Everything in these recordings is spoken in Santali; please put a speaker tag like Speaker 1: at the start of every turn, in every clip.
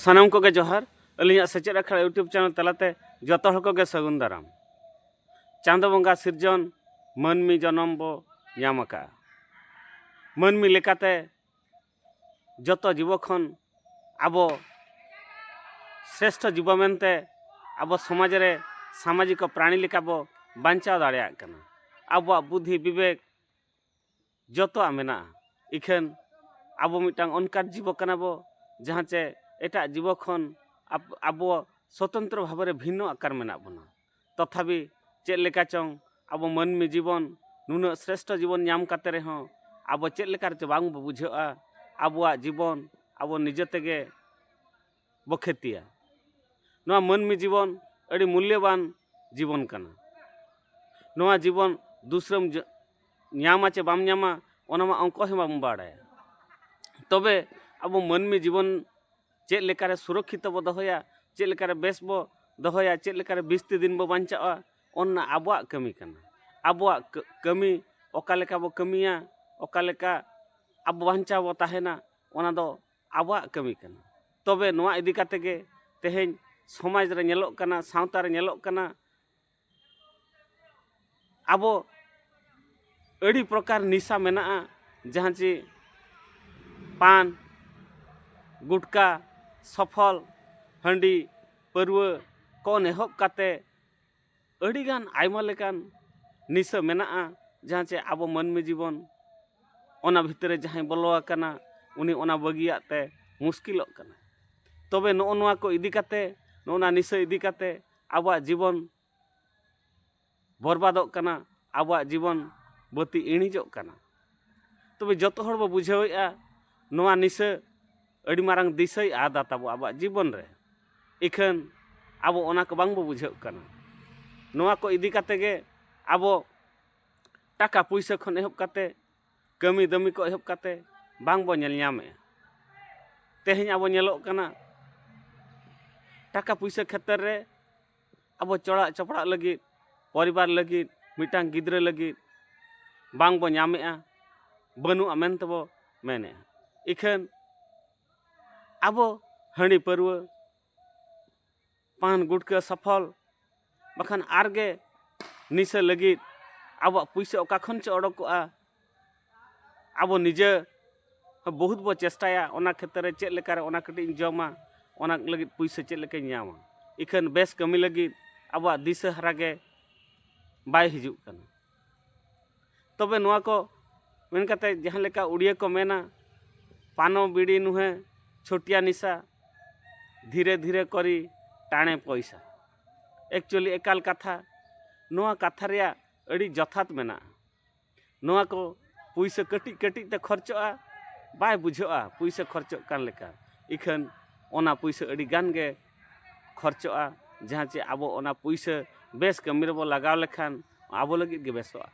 Speaker 1: ᱥᱟᱱᱟᱢ ᱠᱚᱜᱮ ᱡᱚᱦᱟᱨ ᱟᱹᱞᱤᱧᱟᱜ ᱥᱮᱪᱮᱫ ᱟᱠᱷᱲᱟ ᱤᱭᱩᱴᱩᱵᱽ ᱪᱮᱱᱮᱞ ᱛᱟᱞᱟᱛᱮ ᱡᱚᱛᱚ ᱦᱚᱲ ᱠᱚᱜᱮ ᱥᱟᱹᱜᱩᱱ ᱫᱟᱨᱟᱢ ᱪᱟᱸᱫᱚ ᱵᱚᱸᱜᱟ ᱥᱤᱨᱡᱚᱱ ᱢᱟᱹᱱᱢᱤ ᱡᱚᱱᱚᱢ ᱵᱚ ᱧᱟᱢ ᱟᱠᱟᱫᱼᱟ ᱢᱟᱹᱱᱢᱤ ᱞᱮᱠᱟᱛᱮ ᱡᱚᱛᱚ ᱡᱤᱵᱚ ᱠᱷᱚᱱ ᱟᱵᱚ ᱥᱨᱮᱥᱴᱷᱚ ᱡᱤᱵᱚ ᱢᱮᱱᱛᱮ ᱟᱵᱚ ᱥᱚᱢᱟᱡᱽ ᱨᱮ ᱥᱟᱢᱟᱡᱤᱠᱚ ᱯᱨᱟᱬᱤ ᱞᱮᱠᱟ ᱵᱚ ᱵᱟᱧᱪᱟᱣ ᱫᱟᱲᱮᱭᱟᱜ ᱠᱟᱱᱟ ᱟᱵᱚᱣᱟᱜ ᱵᱩᱫᱷᱤ ᱵᱤᱵᱮᱠ ᱡᱚᱛᱚᱣᱟᱜ ᱢᱮᱱᱟᱜᱼᱟ ᱤᱠᱷᱟᱹᱱ ᱟᱵᱚ ᱢᱤᱫᱴᱟᱝ ᱚᱱᱠᱟᱱ ᱡᱤᱵᱚ ᱠᱟᱱᱟ ᱵᱚ ᱡᱟᱦᱟᱸ ᱪᱮ ᱮᱴᱟᱜ ᱡᱤᱵᱚ ᱠᱷᱚᱱ ᱟᱵᱚ ᱥᱚᱛᱚᱱᱛᱨᱚ ᱵᱷᱟᱵᱮ ᱨᱮ ᱵᱷᱤᱱᱱᱚ ᱟᱠᱟᱨ ᱢᱮᱱᱟᱜ ᱵᱚᱱᱟ ᱛᱚᱛᱷᱟᱵᱤ ᱪᱮᱫ ᱞᱮᱠᱟ ᱪᱚᱝ ᱟᱵᱚ ᱢᱟᱹᱱᱢᱤ ᱡᱤᱵᱚᱱ ᱱᱩᱱᱟᱹᱜ ᱥᱨᱮᱥᱴᱷᱚ ᱡᱤᱵᱚᱱ ᱧᱟᱢ ᱠᱟᱛᱮ ᱨᱮᱦᱚᱸ ᱟᱵᱚ ᱪᱮᱫ ᱞᱮᱠᱟ ᱨᱮᱪᱚ ᱵᱟᱝ ᱵᱚ ᱵᱩᱡᱷᱟᱹᱜᱼᱟ ᱟᱵᱚᱣᱟᱜ ᱡᱤᱵᱚᱱ ᱟᱵᱚ ᱱᱤᱡᱮ ᱛᱮᱜᱮ ᱵᱚ ᱠᱷᱮᱛᱤᱭᱟ ᱱᱚᱣᱟ ᱢᱟᱹᱱᱢᱤ ᱡᱤᱵᱚᱱ ᱟᱹᱰᱤ ᱢᱩᱞᱞᱚᱵᱟᱱ ᱡᱤᱵᱚᱱ ᱠᱟᱱᱟ ᱱᱚᱣᱟ ᱡᱤᱵᱚᱱ ᱫᱩᱥᱨᱟᱹᱢ ᱧᱟᱢᱟ ᱪᱮ ᱵᱟᱢ ᱧᱟᱢᱟ ᱚᱱᱟ ᱢᱟ ᱚᱝᱠᱚ ᱦᱚᱸ ᱵᱟᱢ ᱵᱟᱲᱟᱭᱟ ᱛᱚᱵᱮ ᱟᱵᱚ ᱢᱟᱹᱱᱢᱤ ᱡᱤᱵᱚᱱ ᱪᱮᱫ ᱞᱮᱠᱟᱨᱮ ᱥᱩᱨᱚᱠᱠᱷᱤᱛᱚ ᱵᱚ ᱫᱚᱦᱚᱭᱟ ᱪᱮᱫ ᱞᱮᱠᱟᱨᱮ ᱵᱮᱥ ᱵᱚ ᱫᱚᱦᱚᱭᱟ ᱪᱮᱫ ᱞᱮᱠᱟᱨᱮ ᱵᱤᱥᱛᱤ ᱫᱤᱱ ᱵᱚ ᱵᱟᱧᱪᱟᱜᱼᱟ ᱚᱱᱟ ᱟᱵᱚᱣᱟᱜ ᱠᱟᱹᱢᱤ ᱠᱟᱱᱟ ᱟᱵᱚᱣᱟᱜ ᱠᱟᱹᱢᱤ ᱚᱠᱟ ᱞᱮᱠᱟ ᱵᱚ ᱠᱟᱹᱢᱤᱭᱟ ᱚᱠᱟ ᱞᱮᱠᱟ ᱟᱵᱚ ᱵᱟᱧᱪᱟᱣ ᱵᱚ ᱛᱟᱦᱮᱱᱟ ᱚᱱᱟ ᱫᱚ ᱟᱵᱚᱣᱟᱜ ᱠᱟᱹᱢᱤ ᱠᱟᱱᱟ ᱛᱚᱵᱮ ᱱᱚᱣᱟ ᱤᱫᱤ ᱠᱟᱛᱮᱫ ᱜᱮ ᱛᱮᱦᱮᱧ ᱥᱚᱢᱟᱡᱽ ᱨᱮ ᱧᱮᱞᱚᱜ ᱠᱟᱱᱟ ᱥᱟᱶᱛᱟ ᱨᱮ ᱧᱮᱞᱚᱜ ᱠᱟᱱᱟ ᱟᱵᱚ ᱟᱹᱰᱤ ᱯᱨᱚᱠᱟᱨ ᱱᱤᱥᱟ ᱢᱮᱱᱟᱜᱼᱟ ᱡᱟᱦᱟᱸ ᱪᱮ ᱯᱟᱱ ᱜᱩᱴᱠᱟ ᱥᱚᱯᱷᱚᱞ ᱦᱟᱺᱰᱤ ᱯᱟᱹᱨᱣᱟᱹ ᱠᱚ ᱮᱦᱚᱵ ᱠᱟᱛᱮ ᱟᱹᱰᱤᱜᱟᱱ ᱟᱭᱢᱟ ᱞᱮᱠᱟᱱ ᱱᱤᱥᱟᱹ ᱢᱮᱱᱟᱜᱼᱟ ᱡᱟᱦᱟᱸ ᱪᱮ ᱟᱵᱚ ᱢᱟᱹᱱᱢᱤ ᱡᱤᱵᱚᱱ ᱚᱱᱟ ᱵᱷᱤᱛᱨᱤ ᱡᱟᱦᱟᱸᱭ ᱵᱚᱞᱚ ᱟᱠᱟᱱᱟ ᱩᱱᱤ ᱚᱱᱟ ᱵᱟᱹᱜᱤᱭᱟᱜ ᱛᱮ ᱢᱩᱥᱠᱤᱞᱚᱜ ᱠᱟᱱᱟ ᱛᱚᱵᱮ ᱱᱚᱜᱼᱚ ᱱᱚᱣᱟ ᱠᱚ ᱤᱫᱤ ᱠᱟᱛᱮ ᱱᱚᱜᱼᱚ ᱱᱟ ᱱᱤᱥᱟᱹ ᱤᱫᱤ ᱠᱟᱛᱮ ᱟᱵᱚᱣᱟᱜ ᱡᱤᱵᱚᱱ ᱵᱚᱨᱵᱟᱫᱚᱜ ᱠᱟᱱᱟ ᱟᱵᱚᱣᱟᱜ ᱡᱤᱵᱚᱱ ᱵᱟᱹᱛᱤ ᱤᱬᱤᱡᱚᱜ ᱠᱟᱱᱟ ᱛᱚᱵᱮ ᱡᱚᱛᱚ ᱦᱚᱲ ᱵᱚ ᱵᱩᱡᱷᱟᱹᱣᱮᱫᱼᱟ ᱱᱚᱣᱟ ᱱᱤᱥᱟᱹ ᱟᱹᱰᱤ ᱢᱟᱨᱟᱝ ᱫᱤᱥᱟᱹᱭ ᱟᱫᱟ ᱛᱟᱵᱚ ᱟᱵᱚᱣᱟᱜ ᱡᱤᱵᱚᱱ ᱨᱮ ᱤᱠᱷᱟᱹᱱ ᱟᱵᱚ ᱚᱱᱟ ᱠᱚ ᱵᱟᱝ ᱵᱚ ᱵᱩᱡᱷᱟᱹᱜ ᱠᱟᱱᱟ ᱱᱚᱣᱟ ᱠᱚ ᱤᱫᱤ ᱠᱟᱛᱮ ᱜᱮ ᱟᱵᱚ ᱴᱟᱠᱟ ᱯᱩᱭᱥᱟᱹ ᱠᱷᱚᱱ ᱮᱦᱚᱵ ᱠᱟᱛᱮ ᱠᱟᱹᱢᱤ ᱫᱟᱹᱢᱤ ᱠᱚ ᱮᱦᱚᱵ ᱠᱟᱛᱮ ᱵᱟᱝ ᱵᱚ ᱧᱮᱞ ᱧᱟᱢᱮᱜᱼᱟ ᱛᱮᱦᱮᱧ ᱟᱵᱚ ᱧᱮᱞᱚᱜ ᱠᱟᱱᱟ ᱴᱟᱠᱟ ᱯᱩᱭᱥᱟᱹ ᱠᱷᱮᱛᱨᱮ ᱨᱮ ᱟᱵᱚ ᱪᱚᱲᱟᱜ ᱪᱚᱯᱲᱟᱜ ᱞᱟᱹᱜᱤᱫ ᱯᱚᱨᱤᱵᱟᱨ ᱞᱟᱹᱜᱤᱫ ᱢᱤᱫᱴᱟᱝ ᱜᱤᱫᱽᱨᱟᱹ ᱞᱟᱹᱜᱤᱫ ᱵᱟᱝ ᱵᱚ ᱧᱟᱢᱮᱜᱼᱟ ᱵᱟᱹᱱᱩᱜᱼᱟ ᱢᱮᱱᱛᱮ ᱵᱚ ᱢᱮᱱᱮᱜᱼᱟ ᱤᱠᱷᱟᱹᱱ ᱟᱵᱚ ᱦᱟᱺᱰᱤ ᱯᱟᱹᱨᱣᱟᱹ ᱯᱟᱱ ᱜᱩᱴᱠᱟᱹ ᱥᱚᱯᱷᱚᱞ ᱵᱟᱠᱷᱟᱱ ᱟᱨ ᱜᱮ ᱱᱤᱥᱟᱹ ᱞᱟᱹᱜᱤᱫ ᱟᱵᱚᱣᱟᱜ ᱯᱩᱭᱥᱟᱹ ᱚᱠᱟ ᱠᱷᱚᱱ ᱪᱚ ᱚᱰᱚᱠᱚᱜᱼᱟ ᱟᱵᱚ ᱱᱤᱡᱮ ᱵᱚᱦᱩᱛ ᱵᱚ ᱪᱮᱥᱴᱟᱭᱟ ᱚᱱᱟ ᱠᱷᱮᱛᱨᱮ ᱨᱮ ᱪᱮᱫ ᱞᱮᱠᱟᱨᱮ ᱚᱱᱟ ᱠᱟᱹᱴᱤᱡ ᱤᱧ ᱡᱚᱢᱟ ᱚᱱᱟ ᱞᱟᱹᱜᱤᱫ ᱯᱩᱭᱥᱟᱹ ᱪᱮᱫ ᱞᱮᱠᱟᱧ ᱧᱟᱢᱟ ᱤᱠᱷᱟᱹᱱ ᱵᱮᱥ ᱠᱟᱹᱢᱤ ᱞᱟᱹᱜᱤᱫ ᱟᱵᱚᱣᱟᱜ ᱫᱤᱥᱟᱹ ᱦᱟᱨᱟ ᱜᱮ ᱵᱟᱭ ᱦᱤᱡᱩᱜ ᱠᱟᱱᱟ ᱛᱚᱵᱮ ᱱᱚᱣᱟ ᱠᱚ ᱢᱮᱱ ᱠᱟᱛᱮ ᱡᱟᱦᱟᱸ ᱞᱮᱠᱟ ᱩᱲᱤᱭᱟᱹ ᱠᱚ ᱢᱮᱱᱟ ᱯᱟᱱᱚ ᱵᱤᱲᱤ ᱱᱩᱦᱮ ᱪᱷᱳᱴᱤᱭᱟ ᱱᱤᱥᱟ ᱫᱷᱤᱨᱮ ᱫᱷᱤᱨᱮ ᱠᱚᱨᱤ ᱴᱟᱬᱮ ᱯᱚᱭᱥᱟ ᱮᱠᱪᱩᱭᱮᱞᱤ ᱮᱠᱟᱞ ᱠᱟᱛᱷᱟ ᱱᱚᱣᱟ ᱠᱟᱛᱷᱟ ᱨᱮᱭᱟᱜ ᱟᱹᱰᱤ ᱡᱚᱛᱷᱟᱛ ᱢᱮᱱᱟᱜᱼᱟ ᱱᱚᱣᱟ ᱠᱚ ᱯᱩᱭᱥᱟᱹ ᱠᱟᱹᱴᱤᱡ ᱠᱟᱹᱴᱤᱡ ᱛᱮ ᱠᱷᱚᱨᱪᱚᱜᱼᱟ ᱵᱟᱭ ᱵᱩᱡᱷᱟᱹᱜᱼᱟ ᱯᱩᱭᱥᱟᱹ ᱠᱷᱚᱨᱪᱚᱜ ᱠᱟᱱ ᱞᱮᱠᱟ ᱤᱠᱷᱟᱹᱱ ᱚᱱᱟ ᱯᱩᱭᱥᱟᱹ ᱟᱹᱰᱤ ᱜᱟᱱ ᱜᱮ ᱠᱷᱚᱨᱪᱚᱜᱼᱟ ᱡᱟᱦᱟᱸ ᱪᱮ ᱟᱵᱚ ᱚᱱᱟ ᱯᱩᱭᱥᱟᱹ ᱵᱮᱥ ᱠᱟᱹᱢᱤ ᱨᱮᱵᱚ ᱞᱟᱜᱟᱣ ᱞᱮᱠᱷᱟᱱ ᱟᱵᱚ ᱞᱟᱹᱜᱤᱫ ᱜᱮ ᱵᱮᱥᱚᱜᱼᱟ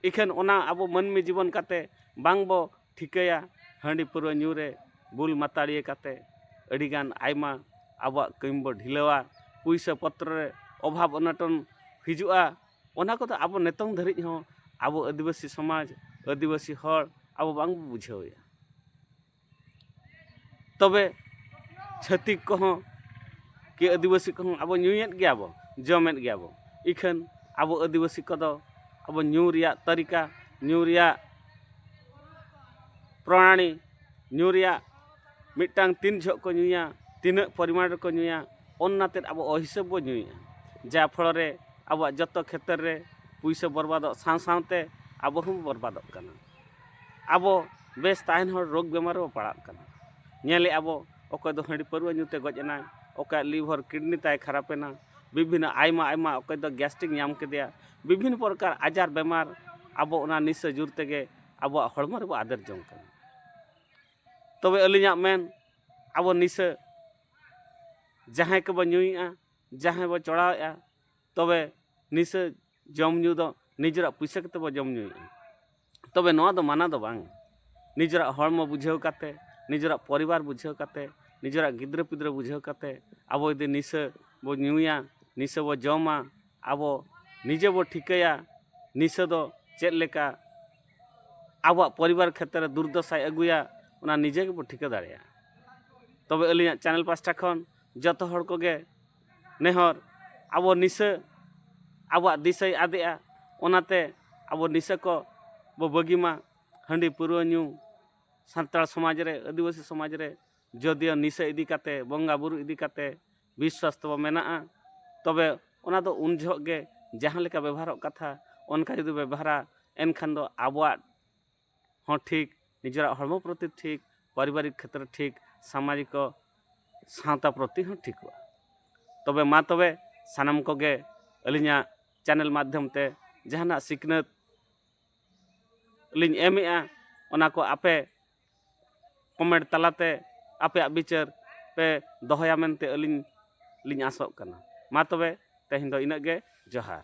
Speaker 1: ᱤᱠᱷᱟᱹᱱ ᱚᱱᱟ ᱟᱵᱚ ᱢᱟᱹᱱᱢᱤ ᱡᱤᱵᱚᱱ ᱠᱟᱛᱮ ᱵᱟᱝ ᱵᱚ ᱴᱷᱤᱠᱟᱹᱭᱟ ᱦᱟᱺᱰᱤ ᱯᱟᱹᱣᱨᱟᱹ ᱧᱩ ᱨᱮ ᱵᱩᱞ ᱢᱟᱛᱟᱲᱤᱭᱟᱹ ᱠᱟᱛᱮ ᱟᱹᱰᱤ ᱜᱟᱱ ᱟᱭᱢᱟ ᱟᱵᱚᱣᱟᱜ ᱠᱟᱹᱢᱤ ᱵᱚ ᱰᱷᱤᱞᱟᱹᱣᱟ ᱯᱩᱭᱥᱟᱹ ᱯᱚᱛᱨᱚ ᱨᱮ ᱚᱵᱷᱟᱵᱽ ᱚᱱᱚᱴᱚᱱ ᱦᱤᱡᱩᱜᱼᱟ ᱚᱱᱟ ᱠᱚᱫᱚ ᱟᱵᱚ ᱱᱤᱛᱚᱝ ᱫᱷᱟᱹᱨᱤᱡ ᱦᱚᱸ ᱟᱵᱚ ᱟᱹᱫᱤᱵᱟᱹᱥᱤ ᱥᱚᱢᱟᱡᱽ ᱟᱹᱫᱤᱵᱟᱹᱥᱤ ᱦᱚᱲ ᱟᱵᱚ ᱵᱟᱝ ᱵᱚ ᱵᱩᱡᱷᱟᱹᱣᱮᱜᱼᱟ ᱛᱚᱵᱮ ᱪᱷᱟᱹᱛᱤᱠ ᱠᱚᱦᱚᱸ ᱠᱤ ᱟᱹᱫᱤᱵᱟᱹᱥᱤ ᱠᱚᱦᱚᱸ ᱟᱵᱚ ᱧᱩᱭᱮᱫ ᱜᱮᱭᱟ ᱵᱚ ᱡᱚᱢᱮᱫ ᱜᱮᱭᱟ ᱵᱚ ᱤᱠᱷᱟᱹᱱ ᱟᱵᱚ ᱟᱹᱫᱤᱵᱟᱹᱥᱤ ᱠᱚᱫᱚ ᱟᱵᱚ ᱧᱩ ᱨᱮᱭᱟᱜ ᱛᱟᱹᱨᱤᱠᱟ ᱧᱩ ᱨᱮᱭᱟᱜ ᱯᱨᱚᱱᱟᱞᱤ ᱧᱩ ᱨᱮᱭᱟᱜ ᱢᱤᱫᱴᱟᱝ ᱛᱤᱱ ᱡᱚᱦᱚᱜ ᱠᱚ ᱧᱩᱭᱟ ᱛᱤᱱᱟᱹᱜ ᱯᱚᱨᱤᱢᱟᱱ ᱨᱮᱠᱚ ᱧᱩᱭᱟ ᱚᱱᱟ ᱛᱮᱫ ᱟᱵᱚ ᱚᱦᱤᱥᱟᱹᱵᱽ ᱵᱚ ᱧᱩᱭᱮᱫᱼᱟ ᱡᱟ ᱯᱷᱚᱞᱚ ᱨᱮ ᱟᱵᱚᱣᱟᱜ ᱡᱚᱛᱚ ᱠᱷᱮᱛᱨᱮ ᱨᱮ ᱯᱩᱭᱥᱟᱹ ᱵᱚᱨᱵᱟᱫᱚᱜ ᱥᱟᱶ ᱥᱟᱶᱛᱮ ᱟᱵᱚ ᱦᱚᱸᱵᱚ ᱵᱚᱨᱵᱟᱫᱚᱜ ᱠᱟᱱᱟ ᱟᱵᱚ ᱵᱮᱥ ᱛᱟᱦᱮᱱ ᱦᱚᱲ ᱨᱳᱜᱽ ᱵᱮᱢᱟᱨ ᱨᱮᱵᱚ ᱯᱟᱲᱟᱜ ᱠᱟᱱᱟ ᱧᱮᱞᱮᱫ ᱟᱵᱚ ᱚᱠᱚᱭ ᱫᱚ ᱦᱟᱺᱰᱤ ᱯᱟᱹᱨᱣᱟᱹ ᱧᱩᱛᱮ ᱜᱚᱡ ᱮᱱᱟᱭ ᱚᱠᱚᱭᱟᱜ ᱞᱤᱵᱷᱟᱨ ᱠᱤᱰᱱᱤ ᱛᱟᱭ ᱠᱷᱟᱨᱟᱯ ᱮᱱᱟ ᱵᱤᱵᱷᱤᱱᱱᱚ ᱟᱭᱢᱟ ᱟᱭᱢᱟ ᱚᱠᱚᱭ ᱫᱚ ᱜᱮᱥᱴᱨᱤᱠ ᱧᱟᱢ ᱠᱮᱫᱮᱭᱟ ᱵᱤᱵᱷᱤᱱᱱᱚ ᱯᱨᱚᱠᱟᱨ ᱟᱡᱟᱨ ᱵᱮᱢᱟᱨ ᱟᱵᱚ ᱚᱱᱟ ᱱᱤᱥᱟᱹ ᱡᱳᱨ ᱛᱮᱜᱮ ᱟᱵᱚᱣᱟᱜ ᱦᱚᱲᱢᱚ ᱨᱮᱵᱚ ᱟᱫᱮᱨ ᱡᱚᱝ ᱠᱟᱱᱟ ᱛᱚᱵᱮ ᱟᱹᱞᱤᱧᱟᱜ ᱢᱮᱱ ᱟᱵᱚ ᱱᱤᱥᱟᱹ ᱡᱟᱦᱟᱸᱭ ᱠᱚᱵᱚ ᱧᱩᱭᱮᱫᱼᱟ ᱡᱟᱦᱟᱸᱭ ᱵᱚ ᱪᱚᱲᱟᱣᱮᱫᱼᱟ ᱛᱚᱵᱮ ᱱᱤᱥᱟᱹ ᱡᱚᱢ ᱧᱩ ᱫᱚ ᱱᱤᱡᱮᱨᱟᱜ ᱯᱩᱭᱥᱟᱹ ᱠᱟᱛᱮ ᱵᱚ ᱡᱚᱢ ᱧᱩᱭᱮᱜᱼᱟ ᱛᱚᱵᱮ ᱱᱚᱣᱟ ᱫᱚ ᱢᱟᱱᱟ ᱫᱚ ᱵᱟᱝ ᱱᱤᱡᱮᱨᱟᱜ ᱦᱚᱲᱢᱚ ᱵᱩᱡᱷᱟᱹᱣ ᱠᱟᱛᱮ ᱱᱤᱡᱮᱨᱟᱜ ᱯᱚᱨᱤᱵᱟᱨ ᱵᱩᱡᱷᱟᱹᱣ ᱠᱟᱛᱮ ᱱᱤᱡᱮᱨᱟᱜ ᱜᱤᱫᱽᱨᱟᱹ ᱯᱤᱫᱽᱨᱟᱹ ᱵᱩᱡᱷᱟᱹᱣ ᱠᱟᱛᱮ ᱟᱵᱚ ᱡᱩᱫᱤ ᱱᱤᱥᱟᱹ ᱵᱚ ᱧᱩᱭᱟ ᱱᱤᱥᱟᱹ ᱵᱚ ᱡᱚᱢᱟ ᱟᱵᱚ ᱱᱤᱡᱮ ᱵᱚ ᱴᱷᱤᱠᱟᱹᱭᱟ ᱱᱤᱥᱟᱹ ᱫᱚ ᱪᱮᱫ ᱞᱮᱠᱟ ᱟᱵᱚᱣᱟᱜ ᱯᱚᱨᱤᱵᱟᱨ ᱠᱷᱮᱛᱨᱮ ᱨᱮ ᱫᱩᱨᱫᱚᱥᱟᱭ ᱟᱹᱜᱩᱭᱟ ᱚᱱᱟ ᱱᱤᱡᱮ ᱜᱮᱵᱚ ᱴᱷᱤᱠᱟᱹ ᱫᱟᱲᱮᱭᱟᱜᱼᱟ ᱛᱚᱵᱮ ᱟᱹᱞᱤᱧᱟᱜ ᱪᱮᱱᱮᱞ ᱯᱟᱥᱴᱟ ᱠᱷᱚᱱ ᱡᱚᱛᱚ ᱦᱚᱲ ᱠᱚᱜᱮ ᱱᱮᱦᱚᱨ ᱟᱵᱚ ᱱᱤᱥᱟᱹ ᱟᱵᱚᱣᱟᱜ ᱫᱤᱥᱟᱹᱭ ᱟᱫᱮᱜᱼᱟ ᱚᱱᱟᱛᱮ ᱟᱵᱚ ᱱᱤᱥᱟᱹ ᱠᱚ ᱵᱚ ᱵᱟᱹᱜᱤ ᱢᱟ ᱦᱟᱺᱰᱤ ᱯᱟᱹᱣᱨᱟᱹ ᱧᱩ ᱥᱟᱱᱛᱟᱲ ᱥᱚᱢᱟᱡᱽ ᱨᱮ ᱟᱹᱫᱤᱵᱟᱹᱥᱤ ᱥᱚᱢᱟᱡᱽ ᱨᱮ ᱡᱳᱫᱤᱭᱳ ᱱᱤᱥᱟᱹ ᱤᱫᱤ ᱠᱟᱛᱮ ᱵᱚᱸᱜᱟ ᱵᱳᱨᱳ ᱤᱫᱤ ᱠᱟᱛᱮ ᱵᱤᱥᱥᱟᱥ ᱛᱟᱵᱚ ᱢᱮᱱᱟᱜᱼᱟ ᱛᱚᱵᱮ ᱚᱱᱟ ᱫᱚ ᱩᱱ ᱡᱚᱦᱚᱜ ᱜᱮ ᱡᱟᱦᱟᱸ ᱞᱮᱠᱟ ᱵᱮᱵᱚᱦᱟᱨᱚᱜ ᱠᱟᱛᱷᱟ ᱚᱱᱠᱟ ᱡᱩᱫᱤ ᱵᱮᱵᱚᱦᱟᱨᱟ ᱮᱱᱠᱷᱟᱱ ᱫᱚ ᱟᱵᱚᱣᱟᱜ ᱦᱚᱸ ᱴᱷᱤᱠ ᱱᱤᱡᱮᱨᱟᱜ ᱦᱚᱲᱢᱚ ᱯᱨᱚᱛᱤ ᱴᱷᱤᱠ ᱯᱟᱨᱤᱵᱟᱨᱤᱠ ᱠᱷᱮᱛᱨᱮ ᱴᱷᱤᱠ ᱥᱟᱢᱟᱡᱤᱠᱚ ᱥᱟᱶᱛᱟ ᱯᱨᱚᱛᱤ ᱦᱚᱸ ᱴᱷᱤᱠᱚᱜᱼᱟ ᱛᱚᱵᱮ ᱢᱟ ᱛᱚᱵᱮ ᱥᱟᱱᱟᱢ ᱠᱚᱜᱮ ᱟᱹᱞᱤᱧᱟᱜ ᱪᱮᱱᱮᱞ ᱢᱟᱫᱽᱫᱷᱚᱢ ᱛᱮ ᱡᱟᱦᱟᱱᱟᱜ ᱥᱤᱠᱷᱱᱟᱹᱛ ᱞᱤᱧ ᱮᱢᱮᱜᱼᱟ ᱚᱱᱟ ᱠᱚ ᱟᱯᱮ ᱠᱚᱢᱮᱱᱴ ᱛᱟᱞᱟᱛᱮ ᱟᱯᱮᱭᱟᱜ ᱵᱤᱪᱟᱹᱨ ᱯᱮ ᱫᱚᱦᱚᱭᱟ ᱢᱮᱱᱛᱮ ᱟᱹᱞᱤᱧ ᱞᱤᱧ ᱟᱥᱚᱜ ᱠᱟᱱᱟ ᱢᱟ ᱛᱚᱵᱮ ᱛᱮᱦᱮᱧ ᱫᱚ ᱤᱱᱟᱹᱜ ᱜᱮ ᱡᱚᱦᱟᱨ